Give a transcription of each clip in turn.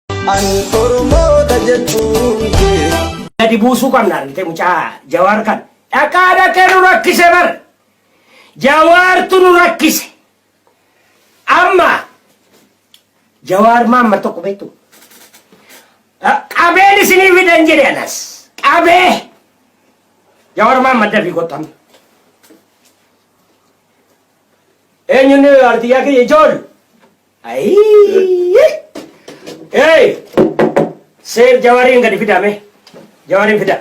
An Oromoota jechuun kee. Gadi buusuu qabna argite mucaa jawaar kan dhaqaa dhaqee nu rakkise bar jawaartu nu rakkise amma jawaar maamma tokko beektu qabeen isinii fidan jedhe anas qabee jawaar maamma dafii kottan eenyuun artiyyaa kiyya ijoollu Ayii! Hey! Seef jawariin gadi fidaa mee. Jawariin fidaa.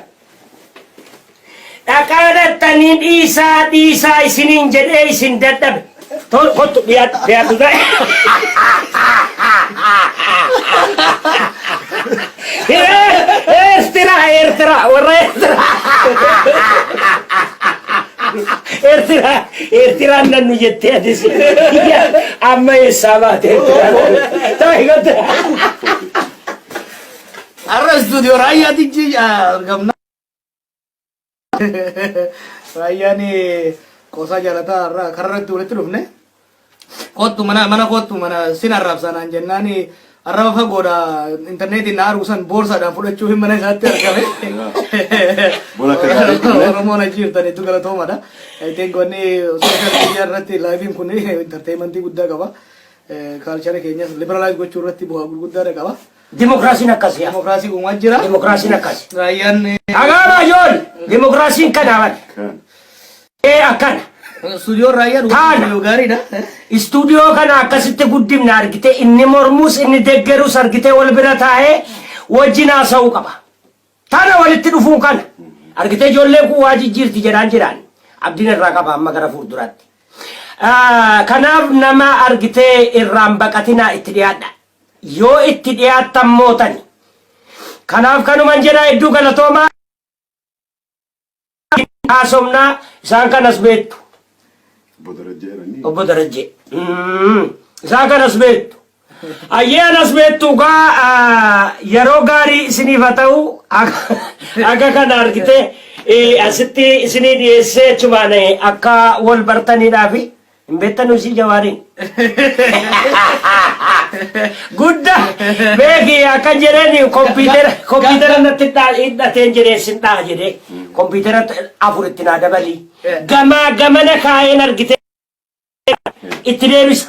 Dhaqaa dhattanii dhiisaa dhiisaa isiniin jedhee isin dadhabe. Tol kottu dhiyaadhu dhiyaadhu. Eertiraa Eertiraa warra Eertiraa Eertiraa Eertiraan nannu jettee atis amma eessaa baate Eertiraan taa'e galte. Arra istuudiyoo raayyaatichi argamna. Raayyaan qoosaa jaalataa har'a kararratti walitti dhufne. Koottu mana mana koottu mana sin arrabsaa naan jennaan arraba fagoodha intarneetiin na arguu san boorsaadhaan fudhachuu hin mana isaatti argame. Bona akka gaarii dhufne. Oromoon achi jirtan hedduu galatoomadha. I think wanni social media irratti laayiviin kun entertainmentii guddaa qaba. Kaalchara keenyas liberalize gochuu irratti bu'aa gurguddaadha qaba. Dimokiraasiin akkasi. Dimokiraasii uumaa jira. Dimokiraasiin akkasi. Raayyaan. Dhagaa baay'oon dimokiraasiin kana bal. Ee akkana. Istuudiyoon raayyaan uumaa gaariidha. Istuudiyoo kana akkasitti guddifna argitee inni mormuus inni deggerus argitee wal bira taa'ee wajjin haasa'uu qaba. Tana walitti dhufuun kana argitee ijoolleen kun waa jijjiirti jedhaan jiraan abdiin irraa qaba amma gara fuulduraatti. Kanaaf nama argitee irraan baqatinaa itti dhiyaadha. Yoo itti dhiyaattan mootani. Kanaaf kanuman jedha hedduu galatoomaa hin haasofna isaan kanas beektu. Obbo Darajjee jedhanii? Obbo Darajjee. Isaan kanas beektu. Ayyee anas beektu gaa yeroo gaarii isiniif haa ta'u haga kana argitee asitti isinii dhiyeessee achumaan akka wal bartaniidhaafi. Hin beektanu isii jawaariin. Gudda beeki akka jedheen kompiitara kompiitara natti dhaa- hidhateen jedheen sin dhaa jedhee kompiitara afur itti naa dabalii gamaa gamana kaa'een argitee itti deebisa.